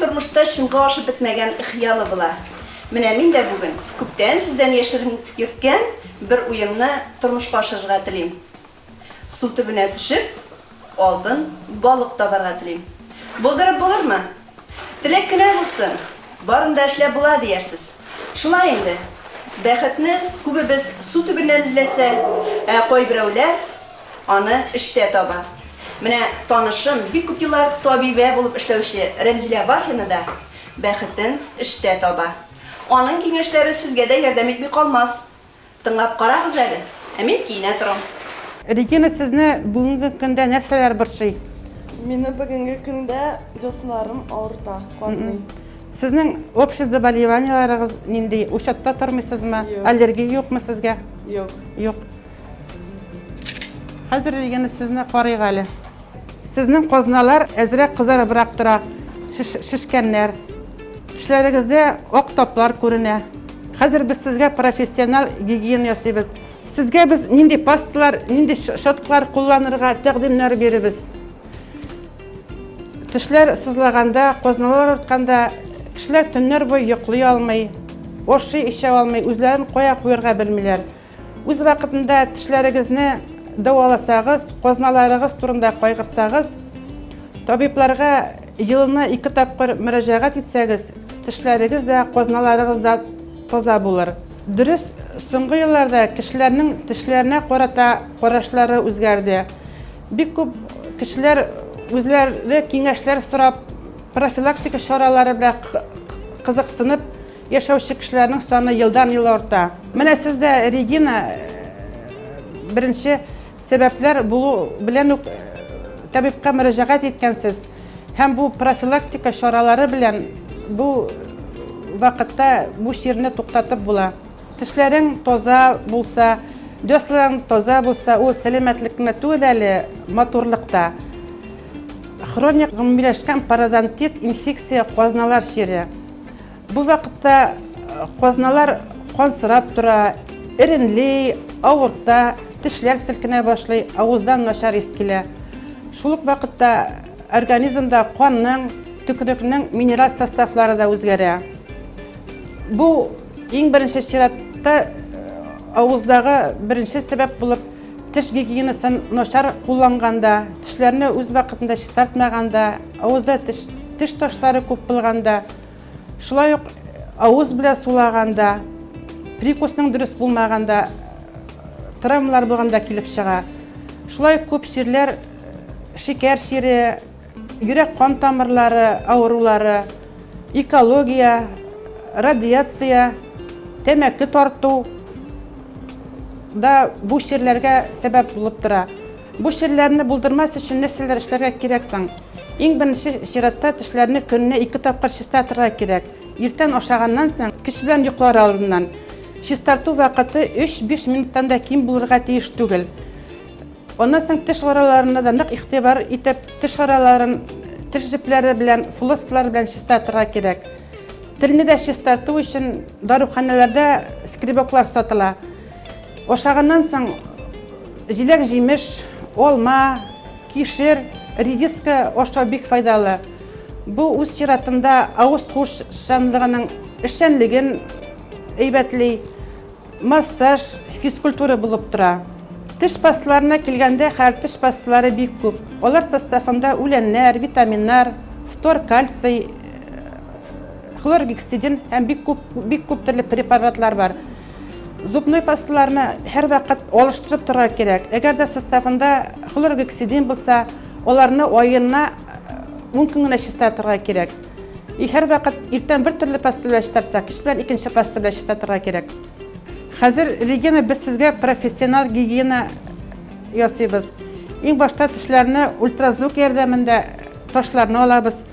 тормышта чынга ашып бетмәгән хыялы була. Менә мин дә бүген күптән сездән яшерен йөрткән бер уемны тормышка ашырырга телим. Су төбенә төшеп, алтын балык табарга телим. Булдырып булырмы? Теләк кенә булсын, барын да эшләп була, диярсез. Шулай инде. Бәхетне күбебез су төбеннән эзләсә, ә кайберәүләр аны эштә таба. Менә танышым, бик күп еллар табибә булып эшләүче Рәмзилә Вафина да бәхетен эштә таба. Аның киңәшләре сезгә дә ярдәм итми калмас. Тыңлап карагыз әле, ә мин киенә торам. Регина, сезне бүгенге көндә нәрсәләр борчый? Мине бүгенге көндә дусларым авырта, катмый. Сезнең общий заболеваниеләрегез нинди? Учетта тормыйсызмы? Юк. Аллергия юкмы сезгә? Юк. Юк. Хәзер Регина сезне карыйк әле. Сезнең казналар әзрәк кызарыбрак тора, шешкәннәр. Тешләрегездә ак таплар күренә. Хәзер без сезгә профессиональ гигиена ясыйбыз. Сезгә без нинди пасталар, нинди щеткалар кулланырга тәкъдимнәр биребез. Тешләр сызлаганда, казналар артканда кешеләр төннәр буе йоклый алмый, ашый-эчә алмый, үзләрен кая куярга белмиләр. Үз вакытында тешләрегезне дәваласагыз, казналарыгыз турында кайгырсагыз, табибларга елына ике тапкыр мөрәҗәгать итсәгез, тешләрегез дә, казналарыгыз да таза булыр. Дөрес, соңгы елларда кешеләрнең тешләренә карата карашлары үзгәрде. Бик күп кешеләр үзләре киңәшләр сорап, профилактика чаралары белән кызыксынып, Яшәүче кешеләрнең саны елдан-ел арта. Менә сез дә, Регина, беренче сәбәпләр булу белән үк табибка мөрәҗәгать иткәнсез. Һәм бу профилактика чаралары белән бу вакытта бу чирне туктатып була. Тешләрең таза булса, дёсларың таза булса, ул сәламәтлек кенә түгел әле, матурлык та. Хроник гомумиләшкән пародонтит, инфекция, казналар чире. Бу вакытта казналар кансырап тора, эремли, авырта, тешләр селкенә башлый, авыздан начар ис килә. Шул ук вакытта организмда канның, төкерекнең минераль составлары да үзгәрә. Бу иң беренче чиратта э, авыздағы беренче сәбәп булып теш гигиенасын начар кулланганда, тешләрне үз вакытында чистартмаганда, авызда теш, теш ташлары күп булганда, Шулай ук авыз белән сулаганда, прикусның дөрес булмаганда, травмалар булганда килеп чыга. Шулай ук күп чирләр шикәр чире, йөрәк кан тамырлары авырулары, экология, радиация, тәмәке тарту да бу чирләргә сәбәп булып тора. Бу чирләрне булдырмас өчен нәрсәләр эшләргә кирәк соң? Иң беренче чиратта тешләрне көненә ике тапкыр чистартырга кирәк. Иртән ашаганнан соң, кич белән йоклар алдыннан. Чистарту вакыты 3-5 минуттан да ким булырга тиеш түгел. Аннан соң теш араларына да нык игътибар итеп, теш араларын теш җепләре белән, флосслар белән чистартырга кирәк. Телне дә чистарту өчен даруханәләрдә скребоклар сатыла. Ашаганнан соң җиләк-җимеш, алма, Кишер, редиска ашау бик файдалы. Бу үз чиратында авыз куышчанлыгының эшчәнлеген әйбәтли, массаж, физкультура булып тора. Теш пасталарына килгәндә, хәзер теш пасталары бик күп. Алар составында үләннәр, витаминнар, фтор, кальций, хлоргексидин һәм бик күп бик күп төрле препаратлар бар. Зубной пасталарны һәрвакыт алыштырып торырга кирәк. Әгәр дә составында хлоргексидин булса, аларны аена 10 көн генә чистартырга кирәк. И һәрвакыт иртән бер төрле паста белән чистарса, кич белән икенче паста белән чистартырга кирәк. Хәзер, Регина, без сезгә профессионал гигиена ясыйбыз. Иң башта тешләрне ультразвук ярдәмендә ташларны алабыз.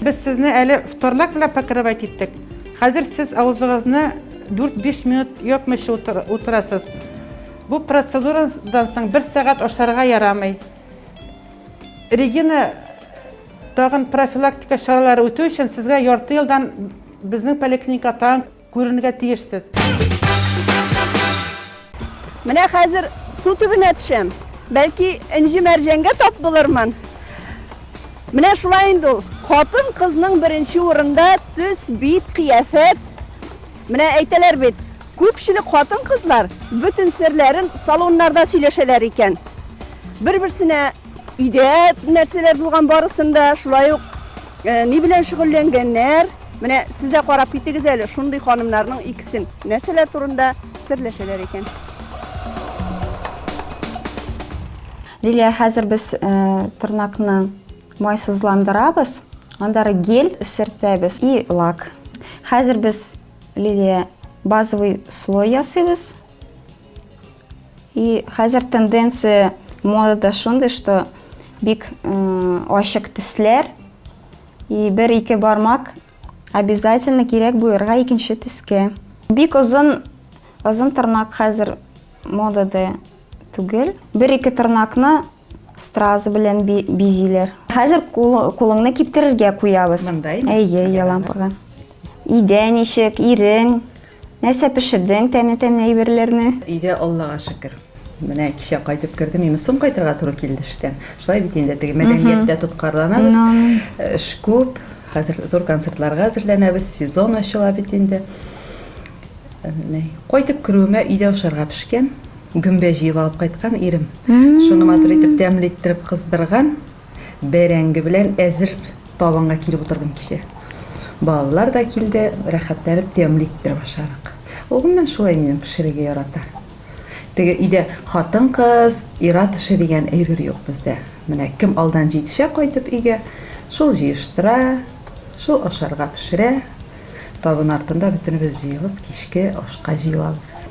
Без сезне әле вторлак белән покрывать иттек. Хәзер сез авызыгызны 4-5 минут япмыйча утырасыз. Бу процедурадан соң бер сәгать ашарга ярамый. Регина тагын профилактика чаралары үтү өчен сезгә ярты елдан безнең поликлиника тагын Күренергә тиешсез. Менә хәзер су төбенә төшәм. Бәлки энҗе мәрҗәнгә тап булырмын. Менә шулай инде ул. Хатын кызның беренче урында төс, бит, кыяфәт. Менә әйтәләр бит, күпчелек хатын кызлар бөтен серләрен салоннарда сөйләшәләр икән. Бер-берсенә өйдә нәрсәләр булган барысын да, шулай ук Э, ни белән шөгыльләнгәннәр? Менә сез дә карап китегез әле, шундый ханымнарның икесен нәрсәләр турында серләшәләр икән. Лилия, хәзер без э, тырнакны майсызландырабыз, анда гель сертәбез и лак. Хәзер без Лилия базовый слой ясыйбыз. И хәзер тенденция модада шундый, что бик ачык төсләр и бер-ике бармак обязательно кирәк буерга икенче төскә. Бик озын озын тырнак хәзер модада түгел. Бер-ике тырнакны Стразы белән бизиләр. Хәзер кулыңны киптерергә куябыз. Мындай? Әйе, әйе, лампага. Идә ничек, ирең? Нәрсә пешердең, тәмле тәмле әйберләрне? Идә Аллага шөкер. Менә кичә кайтып кердем, именно соң кайтырга туры килде эштән. Шулай бит инде теге мәдәнияттә тоткарланабыз. Эш күп. Хәзер зур концертларга әзерләнәбез. Сезон ачыла бит инде. Кайтып керүемә өйдә ашарга пешкән. Гөмбә җыеп алып кайткан ирем. Шуны матур итеп, тәмле иттереп кыздырган. Бәрәңге белән әзер табынга килеп утырдым кичә. Балалар да килде, рәхәтләнеп тәмле иттереп ашадык. Ул гомумән шулай минем, пешерергә ярата. Теге өйдә хатын-кыз, ир-ат эше дигән әйбер юк бездә. Менә кем алдан җитешә кайтып өйгә, шул җыештыра, шул ашарга пешерә. Табын артында бөтенебез җыелып кичке ашка җыелабыз.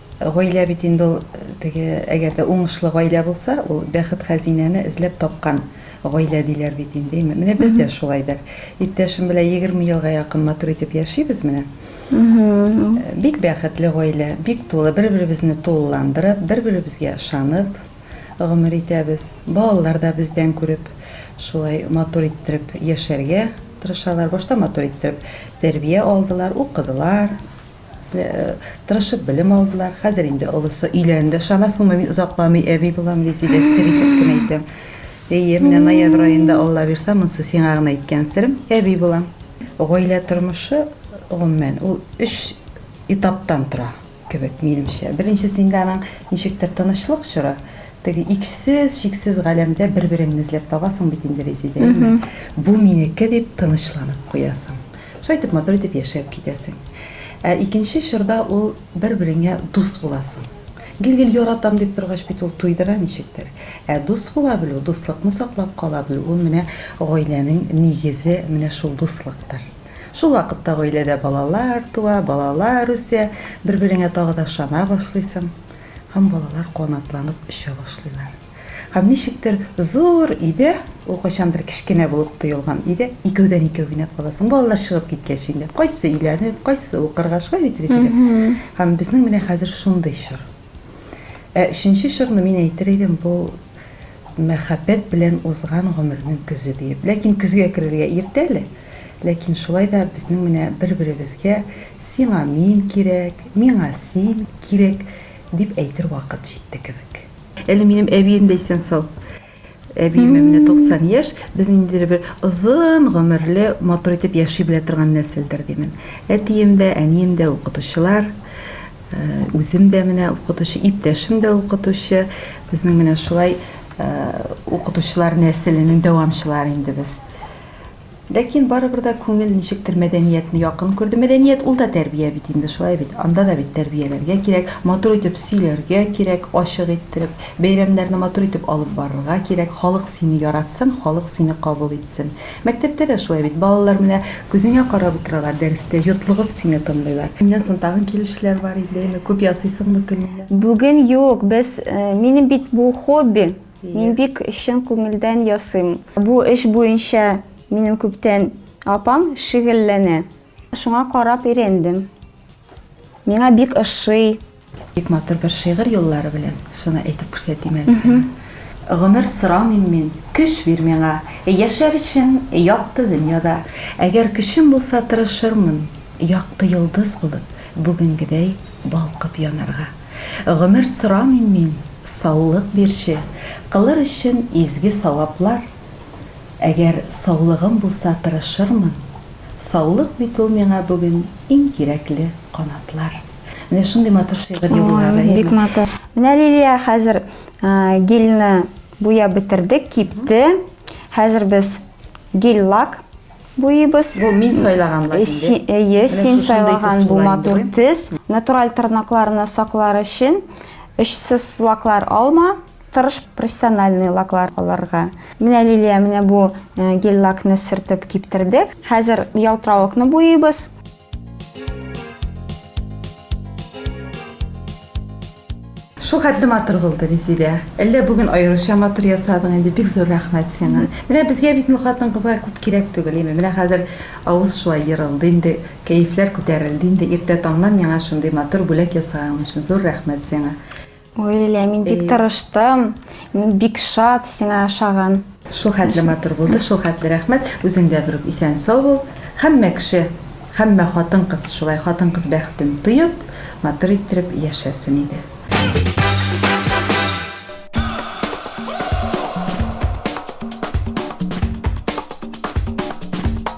Гаилә бит инде ул теге, әгәр дә уңышлы гаилә булса, ул бәхет хәзинәне эзләп тапкан гаилә диләр бит инде. Менә без дә шулай бер иптәшем белән егерме елга якын матур итеп яшибез менә. Бик бәхетле гаилә, бик тулы, бер-беребезне тулыландырып, бер-беребезгә ышанып гомер итәбез. Балалар да бездән күреп шулай матур иттереп яшәргә тырышалар. Башта матур иттереп тәрбия алдылар, укыдылар. Тырышып белем алдылар. Хәзер инде олысы өйләнде. Ышанасыңмы, мин озакламый әби булам, Резидә, сер итеп кенә әйтәм. Әйе, менә ноябрь аенда, Аллабирса, монсы сиңа гына әйткән серем, әби булам. Гаилә тормышы, гомумән, ул өч этаптан тора кебек, минемчә. Беренчесендә аның ничектер тынычлык чоры, теге иксез, чиксез галәмдә бер-береңне эзләп табасың бит инде, Резидә, әйеме? Бу минеке дип тынычланып куясың. Шулай итеп матур итеп яшәп китәсең. Ә икенче чорда ул бер-береңә дус буласың. Гел-гел яратам дип торгач бит ул туйдыра ничектер. Ә дус була белү, дуслыкны саклап кала белү ул менә гаиләнең нигезе менә шул дуслыктыр. Шул вакытта гаиләдә балалар туа, балалар үсә, бер-береңә тагы да ышана башлыйсың һәм балалар канатланып оча башлыйлар. Һәм ничектер зур өйдә, ул кайчандыр кечкенә булып тоелган өйдә икәүдән-икәү генә каласың. Балалар чыгып киткәч инде, кайсы өйләнеп, кайсы укырга, шулай бит, Рәзилә? Һәм безнең менә хәзер шундый чор. Ә өченче чорны мин әйтер идем, бу мәхәббәт белән узган гомернең көзе диеп. Ләкин көзгә керергә иртә әле. Ләкин шулай да безнең менә бер-беребезгә сиңа мин кирәк, миңа син кирәк дип әйтер вакыт җитте кебек. Әле минем әбием дә исән сау. Әбиемә менә 90 яшь, без ниндидер бер озын гомерле, матур итеп яши белә торган нәселдер димен. Әтием дә, әнием дә укытучылар. Э, үзем дә менә укытучы, иптәшем дә укытучы. Безнең менә шулай э, укытучылар нәселенең дәвамчылары инде без. Ләкин барыбер дә күңел ничектер мәдәниятне якын күрде. Мәдәният ул да тәрбия бит инде, шулай бит? Анда да бит тәрбияләргә кирәк, матур итеп сөйләргә кирәк, ачык иттереп, бәйрәмнәрне матур итеп алып барырга кирәк, халык сине яратсын, халык сине кабул итсен. Мәктәптә дә шулай бит, балалар менә күзеңә карап утыралар дәрестә, йотлыгып сине тыңлыйлар. Көннән соң тагын килүчеләр бар инде, әйме, күп ясыйсыңмы көненә? Бүген юк, без, минем бит бу хобби. Мин бик чын күңелдән ясыйм. Бу эш буенча минем күптән апам шөгыльләнә. Шуңа карап өйрәндем. Миңа бик ошый. Бик матур бер шигырь юллары белән шуны әйтеп күрсәтим әле сиңа. Гомер сорамыйм мин, көч бир миңа, Яшәр өчен якты дөньяда. Әгәр көчем булса, тырышырмын, Якты йолдыз булып, бүгенгедәй балкып янарга. Гомер сорамыйм мин, саулык бирче, Кылыр өчен изге саваплар. Әгәр саулыгым булса тырышырмын, Саулык бит ул миңа бүген иң кирәкле канатлар. Менә шундый матур шигырь юллары. Ой, бик матур. Менә Лилия хәзер гельны буяп бетердек, кипте. Хәзер без гель-лак. буйыбыз. Бу мин сайлаган лакинде. Әйе, син сайлаган бу матур тез. Натураль тырнакларны саклар өчен очсыз лаклар алма, тырыш профессиональный лаклар алырга. Менә Лилия, менә бу гель-лакны сөртеп киптердек. Хәзер ялтыравыкны буйыйбыз. Шул хәтле матур булды, Резидә. Әллә бүген аеруча матур ясадың инде. Бик зур рәхмәт сиңа. Менә безгә бит ну хатын-кызга күп кирәк түгел име. Менә хәзер авыз шулай ерылды инде, кәефләр күтәрелде инде. Иртә таңнан миңа шундый матур бүләк ясаганың өчен зур рәхмәт сиңа. Ой, Лилия, мин бик тырыштым. Мин бик шат сиңа ошаган. Шул хәтле матур булды, шул хәтле рәхмәт. Үзең дә берүк исән-сау бул. Һәммә кеше, һәммә хатын-кыз шулай хатын-кыз бәхетен тоеп, матур иттереп яшәсен иде.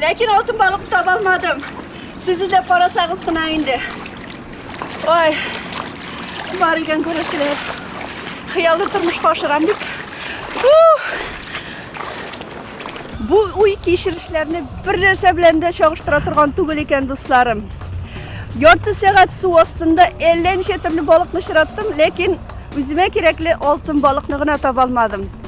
Ләкин алтын балык таба алмадым. Сез эзләп карасагыз гына инде. Ой, бар икән күрәсезләр. Хыяллы тормышка ашырам бит. Бу уй кичерешләрне бер нәрсә белән дә чагыштыра торган түгел икән, дусларым. Ярты сәгать су астында әллә ничә төрле балыкны очраттым, ләкин үземә кирәкле алтын балыкны гына таба алмадым.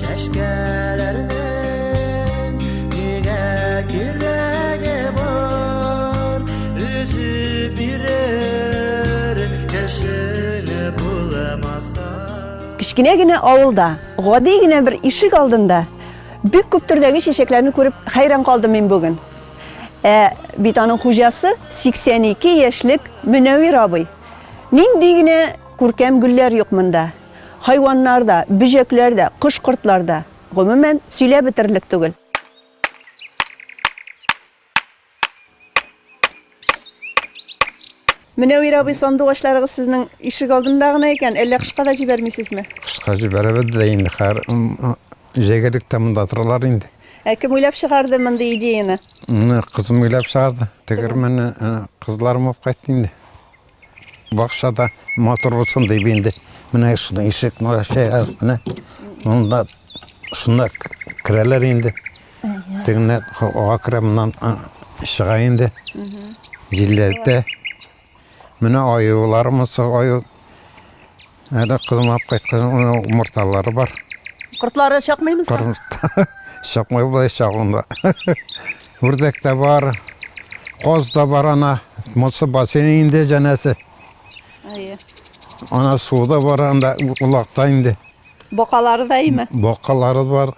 Чәчкәләрнең нигә кирәге бар Өзеп бирер кешене буламаса Кечкенә генә авылда, гади генә бер ишек алдында бик күп төрдәге чәчәкләрне күреп хәйран калдым мин бүген. Ә бит аның хуҗасы 82 яшьлек Мөнәвир абый. Нинди генә күркәм гөлләр юк монда. Хайваннар да, бөҗәкләр дә, кош-кортлар да, гомумән, сөйләп бетерерлек түгел. Мөнәвир абый, сандугачларыгыз сезнең ишек алдында гына икән, әллә кышка да җибәрмисезме? Кышка җибәрәбез дә инде, хәер, җәйгәлек тә монда торалар инде. Ә кем уйлап чыгарды мондый идеяны? Моны кызым уйлап чыгарды. Тегермәнне кызларым алып кайтты инде. Бакчада матур булсын дип инде менә шуны ишек мөәшә менә монда шунда керәләр инде. Тегенә ага керә моннан чыга инде. Җилләтә. Менә аюларымыз аю Әле кызым алып кайткан умырталары бар. Кортлары чакмыймы соң? Корт чакмый болай чагында. Үрдәк тә бар, каз да бар ана. Монсы бассейн инде җәнәсе. Әйе. Ана су да бар анда, улакта инде. Бакалары да име? Бакалары бар.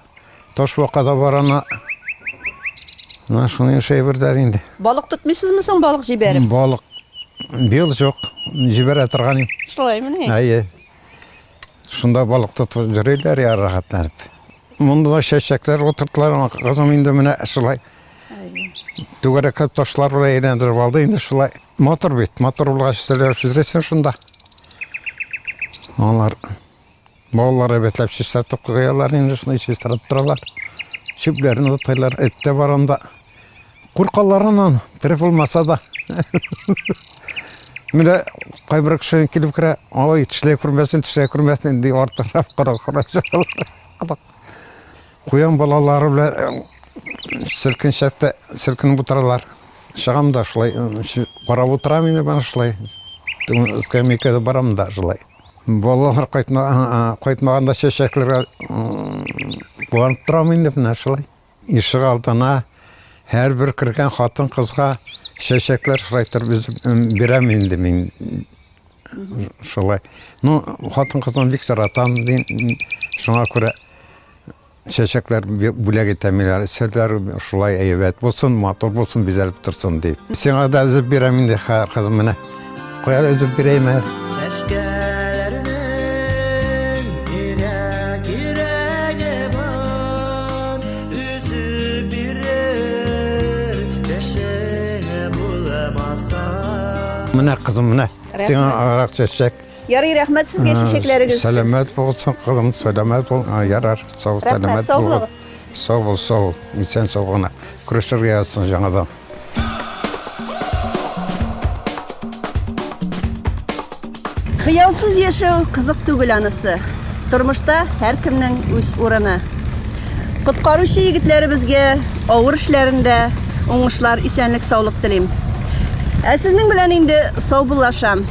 Таш бака да бар ана. Менә шуны эшәй бердәр инде. Балык тотмыйсызмы соң балык җибәреп? Балык бел жоқ, җибәрә торган. Шулай мени? Әйе. Шунда балык тотып җөриләр я рәхәтләнеп. Монда да чәчәкләр утыртылар, кызым инде менә шулай. Түгәрәкләп ташлар белән әйләндереп алды инде шулай. Мотор бит, мотор булгач сөйләшү шунда. Алар Маллар әйбәтләп чистартып куялар инде, шулай чистартып торалар. Чүпләрен утыйлар, эт тә бар анда. Куркалар аннан, тере булмаса да. Менә кайбер кеше килеп керә, ой, тешләй күрмәсен, тешләй күрмәсен, ди артырап кара кара чыгалар. Куян балалары белән селкенчәктә селкенеп утыралар. Чыгам да шулай, карап утырам инде, бана шулай. Скамейкада барам да шулай. Балалар кайтмаганда чәчәкләргә куанып торам инде, менә шулай. Ишек алдына һәрбер кергән хатын-кызга чәчәкләр шулай торып өзеп бирәм инде мин. Шулай. Ну, хатын-кызны бик яратам, шуңа күрә. Чәчәкләр бүләк итә миләр, серләр шулай әйбәт булсын, матур булсын, бизәлеп торсын дип. Сиңа да өзеп бирәм инде, хәер, кызым, менә. Куяр өзеп бирәйем әле. Чәчкәләрнең ирәк ирәге бар, өзеп бирер, яшең булмаса. Менә, кызым, менә, сиңа арак чәчәк. Ярый, рәхмәт сезгә чәчәкләрегез өчен. Сәламәт булсын, кызым, сәламәт бул. Ярар, сау, сәламәт бул. Сау бул, сау, исән сау гына. Күрешергә язсын жаңадан. Хыялсыз яшәү кызык түгел анысы. Тормышта һәркемнең үз урыны. Коткаручы егетләребезгә авыр эшләрендә уңышлар, исәнлек, саулык телим. Ә сезнең белән инде саубуллашам.